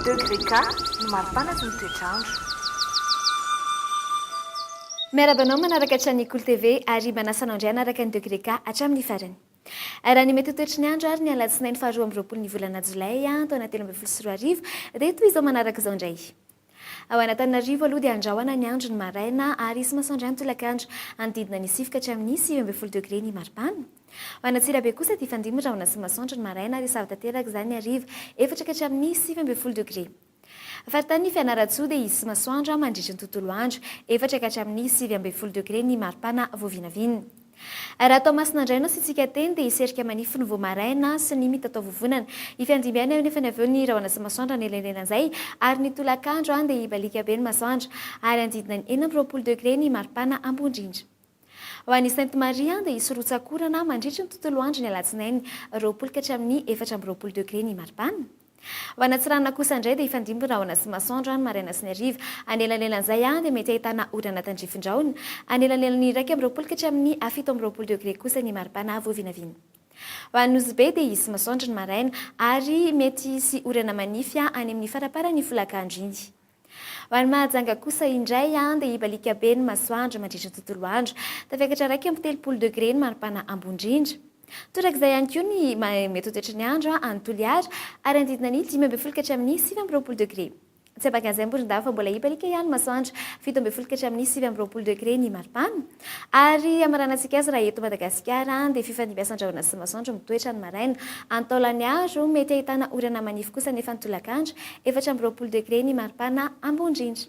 Degré K no maripanaky ny toetr'andro. Miarahaba anao manaraka hatrany ny Kolo TV ary mba anasana ao indray hanaraka ny Degré K hatramin'ny farany. Raha ny mety ho toetry ny andro ary ny alatsinainy faharoa amby roapolo ny volana jolay taona telo ambin'ny folo sy roa arivo dia toy izao manaraka izao indray. Ao Anatananarivo aloha dia andrahona ny andro ny maraina ary hisy masoandro ihany tolakandro. Hanodidina ny sivy ka hatramin'ny sivy ambin'ny folo degre ny maripana. Ao Antsirabe kosa dia hifandimby rahona sy masoandro ny maraina ary hisava tanteraka izany ny hariva, efatra ka hatramin'ny sivy ambin'ny folo degre. Faritanin'i Fianarantsoa dia hisy masoandro mandritra ny tontolo andro, efatra ka hatramin'ny sivy ambin'ny folo degre ny maripana vao vinavina. Raha tao Masina indray no asiantsika teny dia i Serika manify no vao maraina sy ny mitataovovonana. I Fianjimby ihany eo nefa ny avy eo ny rahona sy masoandro hanelainelana izay ary ny tolakandro dia hibaliaka be ny masoandro ary hanodidina ny enina amby roapolo degré ny maripana Ambohindrindra. Ho an'i Sainte-Marie dia hisy rotsak'orana mandritry ny tontolo andro ny alatsinainy roapolo ka hatramin'ny efatra amby roapolo degré ny maripana. Ho an'Antsiranana kosa indray dia hifandimby rahona sy masoandro ny maraina sy ny hariva. Anelanelan'izay any dia mety ahitana orana tandrifin-drahona. Anelanelan'ny iraika amby roapolo ka hatramin'ny fito amby roapolo degre kosa ny mari-pana vao vinavina. Ho an'i Nosy Be dia hisy masoandro ny maraina ary mety hisy orana manify any amin'ny faramparan'ny folakandro iny. Ho an'i Mahajanga kosa indray dia hibaliaka be ny masoandro mandritra ny tontolo andro. Tafiakatra iraika amby telopolo degre ny maripana Ambondrindra. Torak'izay ihany koa ny metotoetry ny andro any Toliara ary hanodidina ny dimy ambin'ny folo ka hatramin'ny sivy amby roapolo degre. Tsy ambakan'izay Morondava fa mbola hibaliaka ihany ny masoandro, fito ambin'ny folo ka hatramin'ny sivy amby roapolo degre ny maripana. Ary hamaranantsika azy raha eto Madagasikara dia fifandimbiasan-drahona sy masoandro mitoetra ny maraina. Any Taolagnaro, mety ahitana orana manify kosa nefa ny tolakandro, efatra amby roapolo degre ny maripana ambondrindra.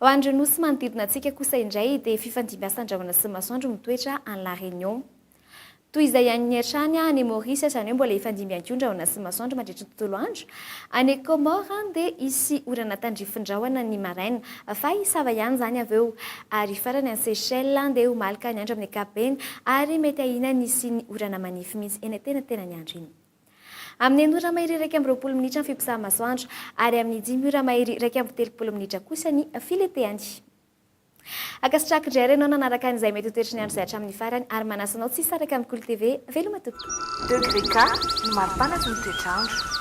Ho an'ireo nosy manodidina antsika kosa indray dia fifandimbiasan-drahona sy masoandro mitoetra any La Réunion. Toy izay haniny hatrany any Maurice, izany hoe mbola hifandimby ihany koa ny rahona sy ny masoandro mandritra ny tontolo andro. Any Comores dia hisy orana tandrifin-drahona ny maraina, fa hisava ihany izany avy eo. Ary farany any Seychelles dia ho maloka ny andro amin'ny ankapobeny ary mety ahiana ny hisian'ny orana manify mihitsy eny an-tenantenan'ny andro iny. Amin'ny enina ora mahery iraika amby roapolo minitra ny fiposahan'ny masoandro, ary amin'ny dimy ora mahery iraika amby telopolo minitra kosa ny filenteany. Ankasitrahako indray ary ianao nanaraka an'izay mety ho toetry ny andro izay hatramin'ny farany ary manasa anao tsy hisaraka amin'ny Kolo TV. Veloma tompoko! Degré Ga no maripanaky ny toetr'andro.